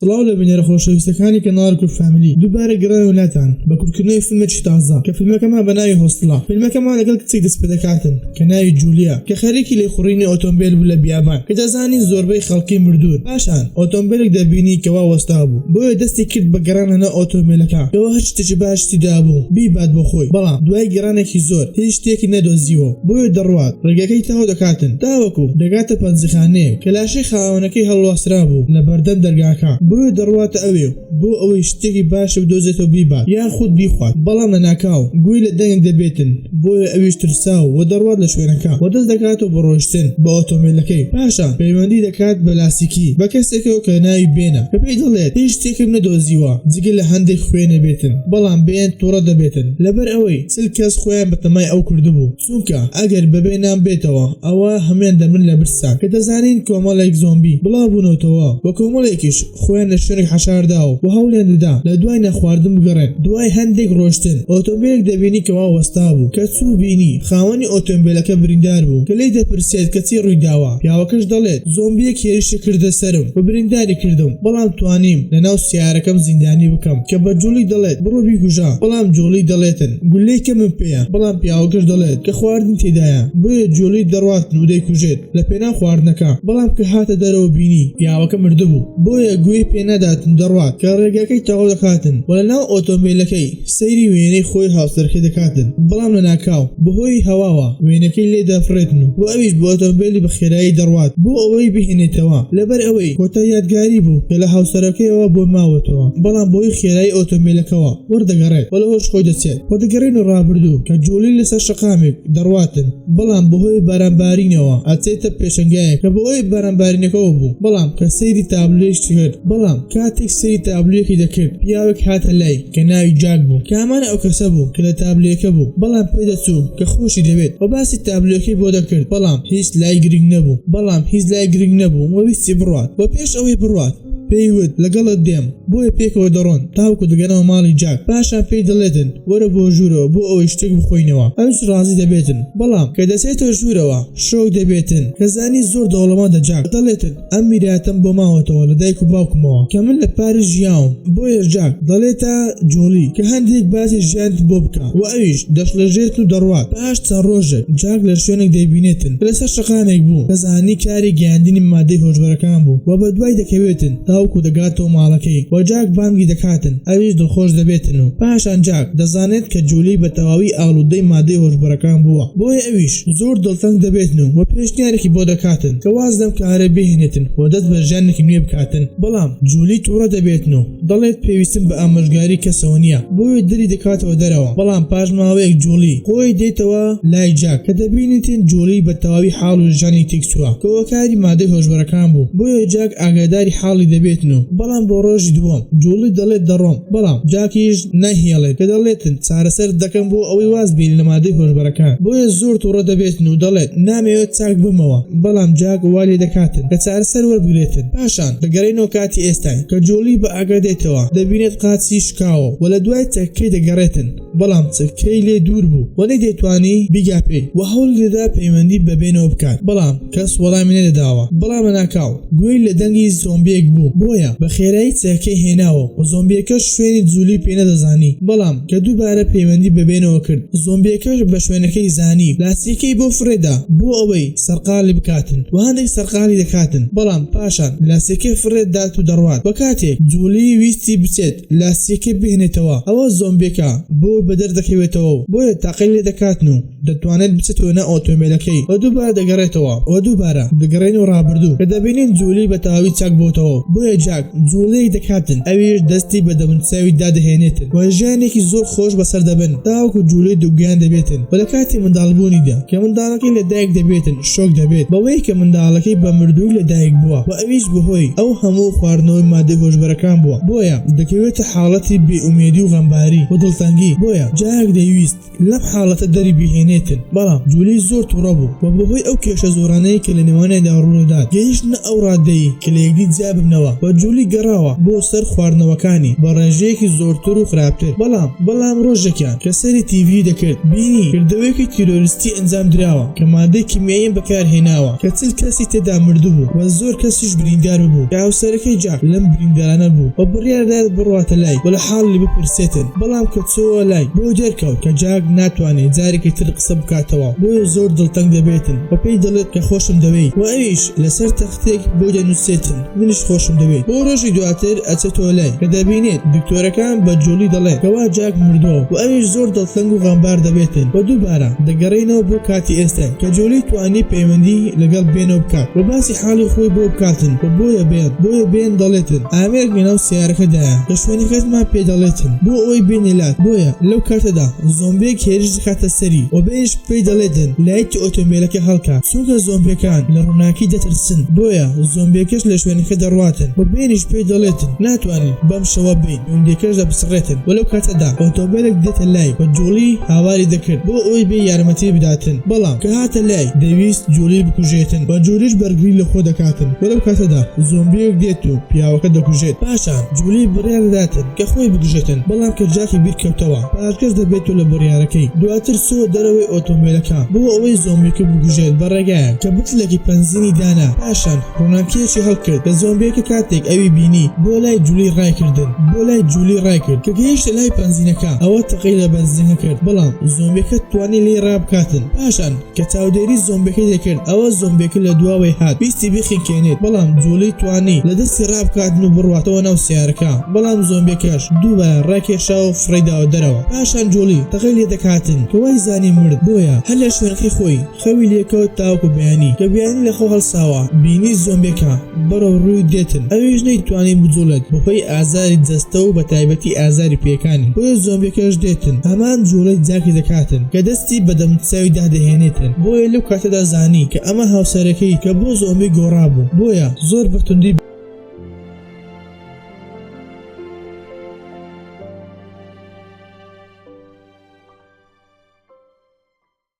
سڵاو لە بینەرە خۆشەویستەکانی کەناڵ کورد فاملی دووبارە گەڕاینەوە لاتان بە کورتکردنەوەی فیلمێکی تازە کە فیلمەکەمان بە ناوی هۆستڵە فیلمەکەمان لەگەڵ کچێک دەست پێ دەکاتن کە ناوی جولیا کە خەریکی لێخوڕینی ئۆتۆمبێل بوو لە بیابان کە دەزانی زۆربەی خەڵکی مردوون پاشان ئۆتۆمبێلێک دەبینی کە وا وەستا بوو بۆیە دەستی کرد بە گەڕان لەناو ئۆتۆمبێلەکە کەوا هەر شتێکی باش تیدا بوو بیبات بۆ خۆی بەڵام دوای گەڕانێکی زۆر هیچ شتێکی نەدۆزیوە بۆیە دەڕوات ڕێگەکەی تەواو دەکاتن تاوەکو دەگاتە پەنجەخانەیەک کە کەشی خاوەنەکەی هەڵواسرابوو لە بەردەم دەرگاکە، بۆیە دەڕواتە ئەوێ و بۆ ئەوەی شتێکی باشی بدۆزێتەوە بیبات یاخود بیخوات، بەڵام لە ناکاو گوێی لە دەنگێک دەبێتن، بۆیە ئەویش ترساو و دەڕوات لە شوێنەکە و دەست دەکاتەوە بە ڕۆیشتن بە ئۆتۆمبێلەکەی، پاشان پەیوەندی دەکات بە لاسیکی بە کەسێکەوە کە ناوی بێنە کە پێی دەڵێت هیچ شتێکم نەدۆزیوە جگە لە هەندێک خوێنێ بێتن، بەڵام بێن توڕە دەبێتن لەبەر ئەوەی چل کەس خۆیان بە تەمای ئەو کردبوو. چونکە ئەگەر بەبێ نان بێتەوە ئەوا هەموان دەمرن لە برسان کە دەزانین کۆمەڵێک زۆمبی بڵاو بونەوتەوە وە کۆمەڵێکیش خۆیان لە شوێنێک حەشارداوە وە هەوڵیان دەدا لە دوای نانخواردن بگەڕێن دوای هەندێک ڕۆشتن ئۆتۆمبێلێک دەبینی کە وا وەستابوو کە چوو بینی خاوەنی ئۆتۆمبێلەکە بریندار بوو کە لێی دەپرسێت کە چی ڕویداوە پیاوەکەش دەڵێت زۆمبیەک هێرشی کردە سەرم وە برینداری کردم بەڵام توانیم لە ناو سەیارەکەم زیندانی بکەم کە بە جوڵی دەڵێت بڕۆ بیکوژە بەڵام جوڵی دەڵێتن گولەی کەمم پێیە بەڵام پیاوەکەش دەڵێت کە خواردن تێدایە بۆیە جۆلەی دەڕواتن و دەیکوژێت لە پێناو خواردنەکە بەڵام کە هاتە دەرەوە بینی پیاوەکە مردبوو بۆیە گوێی پێ ناداتن دەڕوات کە ڕێگەکەی تەواو دەکاتن و لە ناو ئۆتۆمبێلەکەی سەیری وێنەی خۆی هاوسەرەکەی دەکاتن بەڵام لە ناکاو بەهۆی هەواوە وێنەکەی لێ دەفڕێتن و ئەویش بە ئۆتۆمبێلی بە خێرایی دەڕوات بۆ ئەوەی بهێنێتەوە لەبەر ئەوەی کۆتا یادگاری بوو کە لە هاوسەرەکەیەوە بۆی ماوەتەوە بەڵام بەهۆی خێرایی ئۆتۆمبێلەکەوە وەردەگەڕێت و لەوەش خۆی دەچێت و دەگەڕێینە ڕابردوو کە جوڵەی لەسەر شەقامێک دەڕواتن بەڵام بەهۆی بارانبارینەوە ئەچێتە پێشەنگایەک کە بەهۆی بارانبارینەکەوە بوو بەڵام کە سەیری تابلۆیش کرد بەڵام کاتێک سەیری تابلۆیەکی دەکرد پیاوێک هاتە لای کە ناوی جاک بوو کە هەمان ئەو کەسە بوو کە لە تابلۆیەکە بوو بەڵام پێ دەچوو کە خۆشی دەوێت و باسی تابلۆیەکەی بۆ دەکرد بەڵام هیچ لای گرنگ نەبوو بەڵام هیچ لای گرنگ نەبوو و ویستی بڕوات و پێش ئەوەی بڕوات پێی وت لەگەڵت دێم بۆیە پێکەوە دەڕۆن تاوکو دەگەنەوە ماڵی جاک پاشان پێی دەڵێتن وەرە بۆ ژوورەوە بۆ ئەوەی شتێک بخۆینەوە ئەوش ڕازی دەبێتن بەڵام کە دەچێتە ژوورەوە شۆک دەبێتن کە زانی زۆر دەوڵەمەندە جاک دەڵێتن ئەم میراتەم بۆ ماوەتەوە لە دایک و باوکمەوە کە من لە پاریس ژیاوم بۆیە جاک دەڵێتە جۆڵی کە هەندێک باسی ژیانت بۆ بکە و ئەویش دەشڵەژێت و دەڕوات پاش چەند ڕۆژێک جاک لە شوێنێک دەیبینێتن کە لەسەر شەقامێک بوو، دەزانی کاری گەیاندنی مادەی هۆشبەرەکان بوو و بەدوای دەکەوێتن تاوەکو دەگاتەوە ماڵەکەی و جاک بانگی دەکاتن ئەویش دڵخۆش دەبێتن و پاشان جاک دەزانێت کە جولی بە تەواوی ئاڵودەی مادەی هۆشبەرەکان بووە بۆیە ئەویش زۆر دڵتەنگ دەبێتن و پێشنیارێکی بۆ دەکاتن کە واز لەم کارە بهێنێتن و دەست بە ژیانێکی نوێ بکاتن بەڵام جولی توڕە دەبێتن و دەڵێت پێویستم بە ئامۆژگاری کەسەوە نییە بۆیە دەری دەکاتەوە دەرەوە، بەڵام پاش ماوەیەک جوڵی خۆی دێتەوە لای جاک کە دەبینێتین جوڵی بە تەواوی حاڵ و ژانی تێکچووە کە هۆکاری مادەی هۆشبەرەکان بوو بۆیە جاک ئاگاداری حاڵی دەبێتن و بەڵام بۆ ڕۆژی دووەم جوڵی دەڵێت دەڕۆم بەڵام جاکیش نایهێڵێت کە دەڵێتن چارەسەرت دەکەم بۆ ئەوەی واز بێی لە مادەی هۆشبەرەکان بۆیە زۆر توڕە دەبێتن و دەڵێت نامەوێت چاک بمەوە بەڵام جاک وا لێدەکاتن کە چارەسەر وەربگرێتن پاشان دەگەرێنەوە کاتی ئێستای کە جۆڵی بە ئاگا دێتەوە دەبینێت قاچی شکاوە و لە دوای چەکەکەی دەگەڕێتن بەڵام چەکەکەی لێ دوور بوو و نەیدەتوانی بیگا پێی و هەوڵی دەدا پەیوەندی بە بێنەوە بکات بەڵام کەس وەڵامی نەدەداوە بەڵام لەناکاو گوێی لە دەنگی زۆمبیەک بوو بۆیە بە خێرایی چەکەکەی هێناوە و زۆمبیەکەش شوێنی جولی پێ نەدەزانی بەڵام کە دووبارە پەیوەندی بە بێنەوە کرد زۆمبیەکەش بە شوێنەکەی زانی لاسیەکەی بۆ فڕێدا بۆ ئەوەی سەرقاڵی بکاتن و هەندێک سەرقاڵی دەکاتن بەڵام پاشان لاسیەکەی فڕێ دات و دەڕوات وە کاتێک جوڵی ویستی بچێت لاسیەکەی بهێنێتەوە ئەوە زۆمبیەکە بۆی بەدەر دەکەوێتەوە و بۆیە تاقی لێ دەکاتن و دەتوانێت بچێتەوە ناو ئۆتۆمبێلەکەی وە دووبارە دەگەڕێتەوە وە دووبارە دەگەڕێنەوە ڕابردوو کە دەبینین جوڵی بە تەواوی چاک بۆتەوە و بۆیە جاک جوڵیەک دەکاتن ئەویش دەستی بە دەموچاوی دادەهێنێتن وە ژیانێکی زۆر خۆش بەسەر دەبن تاوەکو جوڵی دووگیان دەبێتن وە لە کاتی منداڵبوونیدا کە منداڵە کاتێک لەدایک دەبێتن شۆک دەبێت بەوەی کە منداڵەکەی بە مردووی لەدایک بووە و ئەویش بەهۆی ئەو هەموو خواردنەوەی مادەی هۆشبەرەکان بووە بۆیە دەکەوێتە حاڵەتی بێ ئومێدی و غەمباری و دڵتەنگی بۆیە جارێک دەیویست لەم حاڵەتە دەری بهێنێتن بەڵام جولی زۆر توڕە بوو و بەهۆی ئەو کێشە زۆرانەی کە لە نێوانیاندا ڕوودەدات گەیشتنە ئەو ڕادەی کە لە یەکدی جیا ببنەوە و جولی گەڕاوە بۆ سەر خواردنەوەکانی بە ڕێژەیەکی زۆرتر و خراپتر بەڵام بەڵام ڕۆژێکیان کە سەیری تیڤی دەکرد بینی کردەوەیەکی تیرۆریستی ئەنجام دراوە کە مادەی کیمیایی بەکار هێناوە کە چل کەسی تێدا مردبوو و زۆر کەسیش بریندار ببوو کە هاوسەرەکەی جاک لەم بریندارانە بوو و بڕیار دایەت بڕواتە لای و لە حاڵی بپرسێتن بەڵام کە چۆوە لای بۆی دەرکەوت کە جاک ناتوانێت جارێکی تر قسە بکاتەوە بۆیە زۆر دڵتەنگ دەبێتن و پێی دەڵێت کە خۆشم دەوێیت و ئەویش لەسەر تەختێک بۆی دەنوسێتن منیش خۆشم دەوێت بۆ ڕۆژی دواتر ئەچێتەوە لای کە دەبینێت دکتۆرەکان بە جۆلی دەڵێت کەوا جاک مردووە و ئەویش زۆر دڵتەنگ و غەمبار دەبێتن و دووبارە دەگەڕێنەوە بۆ کاتی ئێستا کە جۆلی توانی پەیوەندی لەگەڵ بێنەوە بکات و باسی حاڵی خۆی بۆ بکاتن و بۆیە بێن بۆیە بێن دەڵێتن ئامێرێک لەناو سەیارەکەدایە کە شوێنەکەتمان پێ دەڵێتن بۆ ئەوەی بێنە لات بۆیە لەو کاتەدا زۆمبێک هێرش دەکاتە سەری و بێنیش پێی دەڵێ دن، لایتی ئۆتۆمبێلەکە هەڵکە، چونکە زۆمبیەکان لە ڕووناکی دەترسن، بۆیە زۆمبیەکەش لە شوێنەکە دەڕواتن و بێنیش پێی دەڵێ دن، ناتوانین بەم شەوە بێین، گوندیەکەش دەپچڕێتن و لەو کاتەدا ئۆتۆمبێلێک دێتە لای و جوڵی هاواری دەکرد بۆ ئەوەی بێ یارمەتی بداتن، بەڵام کە هاتە لای دەویست جوڵی بکوژێتن و جوڵیش بەرگری لە خۆ دەکاتن و لەو کاتەدا زۆمبیەک دێت و پیاوەکە دەکوژێت، پاشان جوڵی بڕیار دەداتن، کە خۆی بکوژێتن بەڵام کە جاکی بیر کەوتەوە پاشگەز دەبێتو لە بڕیارەکەی دواتر چووە دەرەوەی ئۆتۆمبێلەکە بۆ ئەوەی زۆمبیەکە بکوژێت بە ڕێگایەک کە بتڵێکی پەنزینی دانا پاشان ڕوناکیەکی هەڵکرد کە زۆمبیەکە کاتێک ئەوی بینی بۆ لای جولی ڕایکردن بۆ لای جولی ڕایکرد کە گەیشتە لای پەنزینەکە ئەوە تەقەی لە بەنزینەکە کرد بەڵام زۆمبیەکە توانی لێی ڕابکاتن پاشان کە چاودێری زۆمبەکە دەکرد ئەوا زۆمبەکە لە دواوەی هات ویستی بخنکێنێت بەڵام جوڵی توانی لە دەستی ڕابکاتن و بڕواتەوە ناو سەیارەکە بەڵام زۆمبەکەش دووبارە ڕاکێشا و فڕێی داوە دەرەوە پاشان جوڵی تەقەی لێ دەکاتن کە وای زانی مرد بۆیە هەر لە شوێنەکەی خۆی خەوی لێکەوت تاوەکو بەیانی کە بەیانی لە خەو هەڵساوە بینی زۆمبەکە بەرەو ڕووی دێتن ئەویش نەیتوانی بجوڵێت بەهۆی ئازاری جەستە و بەتایبەتی ئازاری پێکانی بۆیە زۆمبیەکەش دێتن هەمان جوڵەی جاکی دەکاتن کە دەستی بە دەموچاویدا دەهێنێتن بۆیە لەو کاتەدا زانی کە ئەمە هاوسەرەکەی کە بۆ زۆمبی گۆڕابوو بۆیە زۆر بە توندی